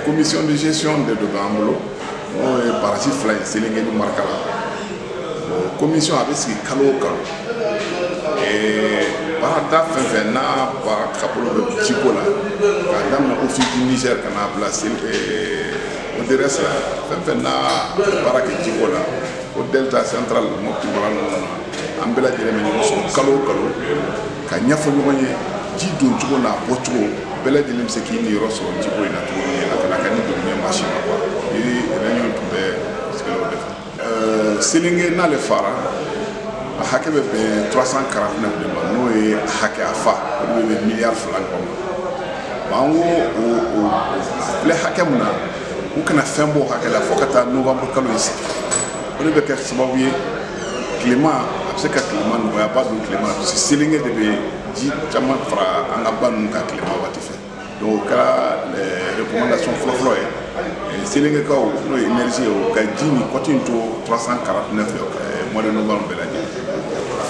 commission de gestion des eaux b'an bolo n'o ye barasi fila ye selenge ni marakala o commission a bɛ sigi kalo o kalo baarada fɛn fɛn n'a baarakɛbolo bɛ jiko la k'a daminɛ ofisi niger ka n'a bila odrs la fɛn fɛn n'a baara kɛ jiko la o delta central mɔpti mara ninnu na an bɛɛ lajɛlen bɛ ɲɔgɔn sɔrɔ kalo o kalo ka ɲɛfɔ ɲɔgɔn ye ji don cogo n'a bɔ cogo bɛɛ lajɛlen bɛ se k'i niyɔrɔ sɔrɔ jiko in na cogo min na ka na kɛ ni dugumɛ machin na kuwa ni réunion tun bɛ sigilenw de kan euh, selenge n'ale fara a hakɛ bɛ bɛn 349 de ma n'o ye hakɛ a fa o de bɛ bɛn miliyari fila ɲɔgɔn ma an ko o o filɛ hakɛ min na u kana fɛn b'o hakɛ la fo ka taa novembre kalo in se o de bɛ kɛ sababu ye tilema a bɛ se ka tilema nɔgɔya ba don tilema parce que selenge de bɛ ji caman fara an ka ba ninnu kan tilema waati fɛ donc o kɛra eh, recommandation fɔlɔfɔlɔ ye eh, selengekaw n'o ye énergie ye o ka ji nin cote in to 349 eh, mois de novembre bɛɛ lajɛ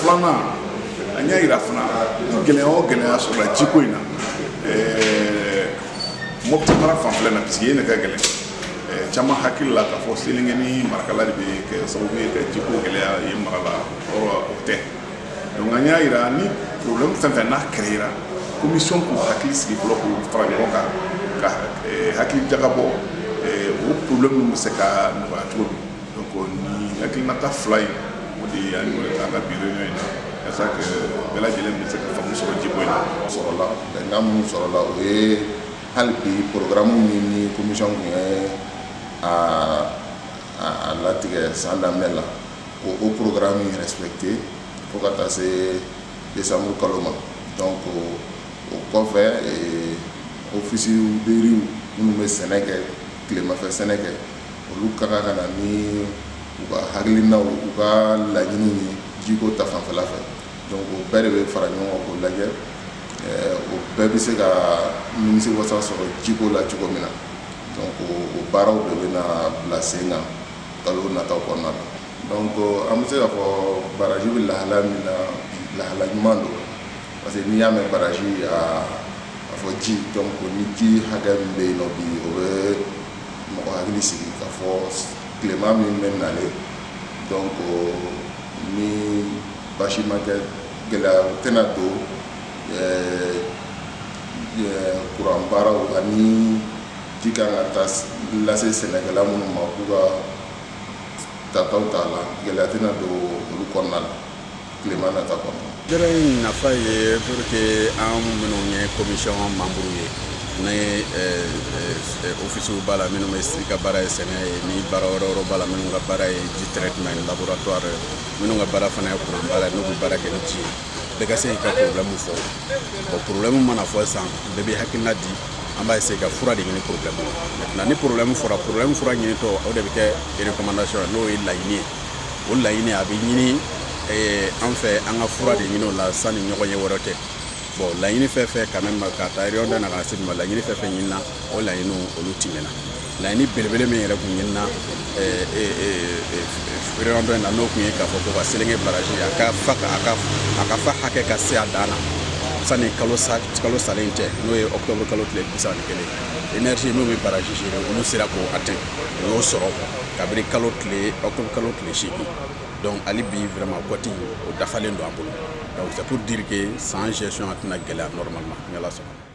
filanan an y'a yira fana gɛlɛya o gɛlɛya sɔrɔla jiko in na mɔputi mara fanfɛla na parce que yen de ka gɛlɛn caman hakili la k'a fɔ selenge ni marakala de bɛ kɛ sababu ye ka jiko gɛlɛya yen mara la or o tɛ donc an y'a yira ni problème fɛn fɛn n'a créera commission k'u hakili sigi fɔlɔ k'u fara ɲɔgɔn kan ka hakili jagabɔ o problème ninnu bɛ se ka nɔgɔya cogo min donc nin hakilinata fila in o de ye an y'o de ta an ka bi réunion in na yasa que bɛɛ lajɛlen bɛ se ka faamu sɔrɔ jiko in na sɔrɔla bɛnkan minnu sɔrɔla o ye hali bi porogaramu min ni komisɔn tun ye a latigɛ san daminɛ la ko o porogaramu in respecter fo ka taa se desanburu kalo ma donc o kɔfɛ ofisi de riz minnu bɛ sɛnɛ kɛ tilemafɛ sɛnɛ kɛ olu ka kan ka na ni u ka hakilinaw u ka laɲiniw ye jiko ta fanfɛla fɛ donc o bɛɛ de bɛ fara ɲɔgɔn kan k'o lajɛ o bɛɛ bɛ se ka nimisiwasa sɔrɔ jiko la cogo min na donc o baaraw de bɛ na bila sen kan kalo nataw kɔnɔna na donc an bɛ se k'a fɔ baraji bɛ lahala min na lahala ɲuman don parce que n'i y'a mɛn baraji a a fɔ ji donc ni ji hakɛ min bɛ yen nɔ bi o bɛ mɔgɔ hakili sigi k'a fɔ tilema min bɛ nalen donc ni basi ma kɛ gɛlɛya tɛna don kuran baaraw ani ji kan ka taa lase sɛnɛkɛla minnu ma k'u ka tataw t'a la gɛlɛya tɛna don olu kɔnɔna na tilema nata kɔnɔ jɛrɛ in nafa ye pour que an minnu ye commission membre ye ni ofisiw b'a la minnu bɛɛ ka baara ye sɛnɛ ye ni baara wɛrɛ wɛrɛ b'a la minnu ka baara ye ji traitement laboratoire minnu ka baara fana ye kuran baara ye n'u bɛ baara kɛ ni ji ye bɛɛ ka se k'i ka porobilɛmu fɔ bon porobilɛmu mana fɔ sisan bɛɛ bɛ hakilina di an b'a essaye ka fura de ɲini porobilɛmu la maintenant ni porobilɛmu fɔra porobilɛmu fura ɲinitɔ o de bɛ kɛ recommandation ye n'o ye laɲini ye o laɲini a bɛ ɲini an fɛ an ka fura de ɲini o la sanni ɲɔgɔnye wɛrɛ cɛ bon laɲini fɛn fɛn ka mɛn ka taa yɔrɔ da na ka se ma laɲini fɛn fɛn ɲinina o laɲiniw olu tɛmɛna laɲini belebele min yɛrɛ kun ɲinina feereyɔrɔ dɔ in na n'o kun ye k'a fɔ ko ka selenge baraji a ka fa a ka a ka fa hakɛ ka se a dan na sani kalo sa kalo salen cɛ n'o ye octobre kalo tile bi saba ni kelen énergie n'o bɛ baraji géré olu sera k'o atteint u y'o sɔrɔ kabini kalo tile octobre kalo tile seegin donc hali bi vraiment kɔti o dafalen don an bolo donc c'est pour dire que sa gestion a tɛna gɛlɛya normalement ni ala sɔnna